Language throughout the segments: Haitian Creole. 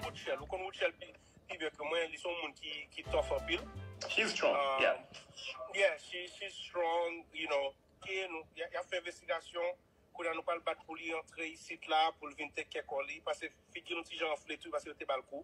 Rutshelle, ou konn Rutshelle pi pi byen ke mwen, li se yon moun ki ki tough anpil. She's strong, yeah. Um, yeah, she she's strong, you know. Ok, nou, y ap fè envestigasyon, kounye a nou pral bat pou li antre isit la, pou l vin take care kò li, pase figi l yon ti jan anfle tou, pase yo te ba l kou.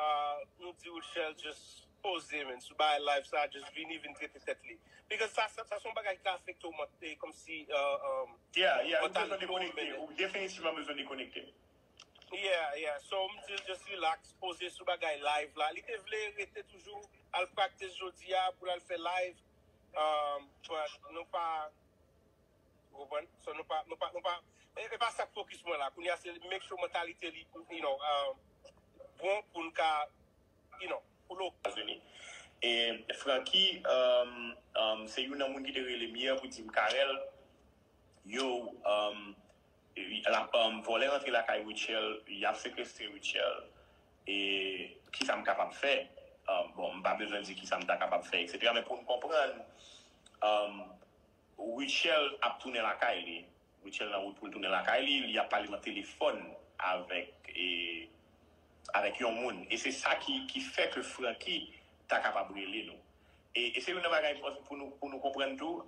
Ahh nou di Rutshelle just poze men sou bagay live sa just vini vin trete tèt li because sa sa son bagay ki ka afekte w mantè komsi umm Yeah yeah ou bezwen dekonekte ou definitivman bezwen dekonekte. Yeah yeah so m dil just relax poze sou bagay live la li te vle rete toujou al practice jodi a pou l al fè live umm but nou pa Ou konprann? So nou pa, nou pa, nou pa, e, e pa sa k fokis mwen la. Kounye a se make sure mantalite li, you know, um, bon pou l ka, you know, pou l ok. Etazini. E Francky, um, um, se youn nan moun ki te rele m yè pou di m, Carel, yow, um, l ap, um, vòlè rantre lakay Rutshelle, y ap sekestre Rutshelle, e ki sa m kapab fè? Um, bon, m pa bezwen di ki sa m ta kapab fè, eksetera, men pou n konprann, um, Rutshelle ap tounen lakay li. Rutshelle nan wout pou l tounen lakay li, li ap pale nan telefòn avèk avèk yon moun. E se sa ki ki fè ke Francky ta kapab rele nou. E e se youn nan bagay m panse pou nou pou nou konprann tou,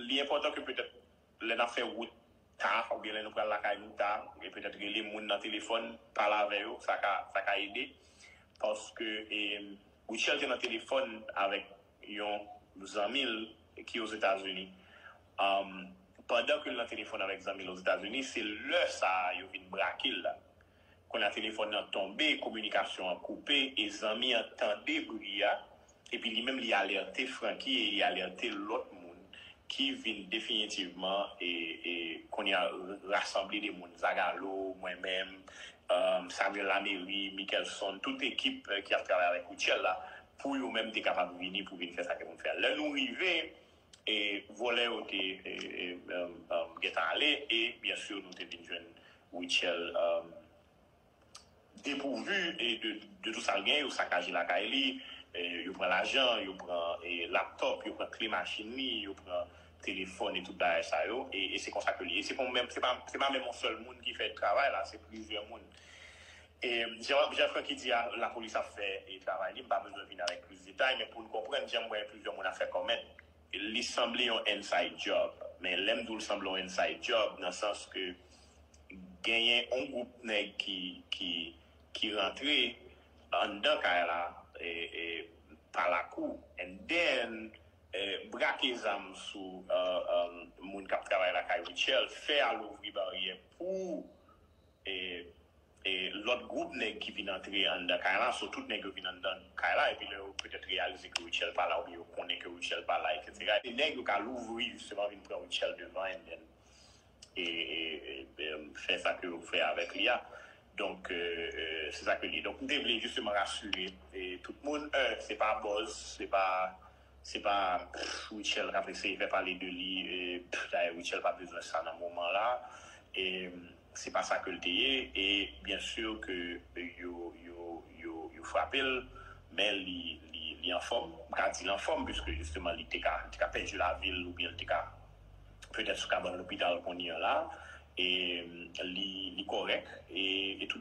li enpòtan ke petèt lè n ap fè wout ta oubyen lè nou pral lakay nou ta, e petèt rele moun nan telefòn, pale avè yo, sa ka sa ka ede. Paske e Rutshelle te nan telefòn avèk yon zanmi l ki Ozetazini, pandan ke l nan telefòn avèk zanmi l Ozetazini, se lè sa a yo vin brake l la. Kounye a telefòn nan tonbe, kominikasyon an koupe e zanmi an tande bri a epi li menm li alète Francky e li alète lòt moun ki vin definitivman e kounye a rasanble de moun, Zagalo, mwen menm, Samuel Lamery, Mickelson, tout ekip ki ap travay avèk Rutshelle la Pou yo menm te kapab vini pou vin fè sa ke moun fè a. Lè nou rive, e vòlè yo te gentan ale, e byen sûr nou te vin jwenn Rutshelle depourvu de tout sa l genyen, yo sakaje lakay li, yo pran lajan, yo pran laptop, yo pran kle machin li, yo pran telefòn e tout bagay sa yo, e se konsa ke li ye. Se pa menm yon sèl moun ki fè travay la, se plizyè moun. E jan Jean Francky di a la polis ap fè travay li, m pa bezwen vin avèk plis detay men pou n konprann jan m wè plizyè moun ap fè comment li sanble yon inside job men lè m di w l sanble yon inside job nan sans ke genyen yon gwoup nèg ki rantre anndan kay la pa lakou and then brake zam sou moun k ap travay lakay Rutshelle fè al ouvri baryè pou e lòt gwoup nèg ki vin antre anndan kay la, so tout nèg yo vin anndan kay la, epi lè yo petèt reyalize ke Rutshelle pa la oubyen yo konnen ke Rutshelle pa la eksetera, e nèg yo ka louvri jisteman vin pran Rutshelle devan and then fè sa ke yo fè avèk li a, donk se sa ke li ye. Donk m te vle jisteman rasire tout moun, 1 se pa buzz, se pa se pa Rutshelle k ap eseye fè pale de li, dayè Rutshelle pa bezwen sa nan moman la, e. Se pa sa ke l te ye e byen sûr ke yo yo yo frape l men li li li anfòm. M ka di l anfòm piske jisteman li te ka li te ka pèdi lavi l oubyen li te ka petèt sou kabann lopital kounye an la e li li kòrèk e tout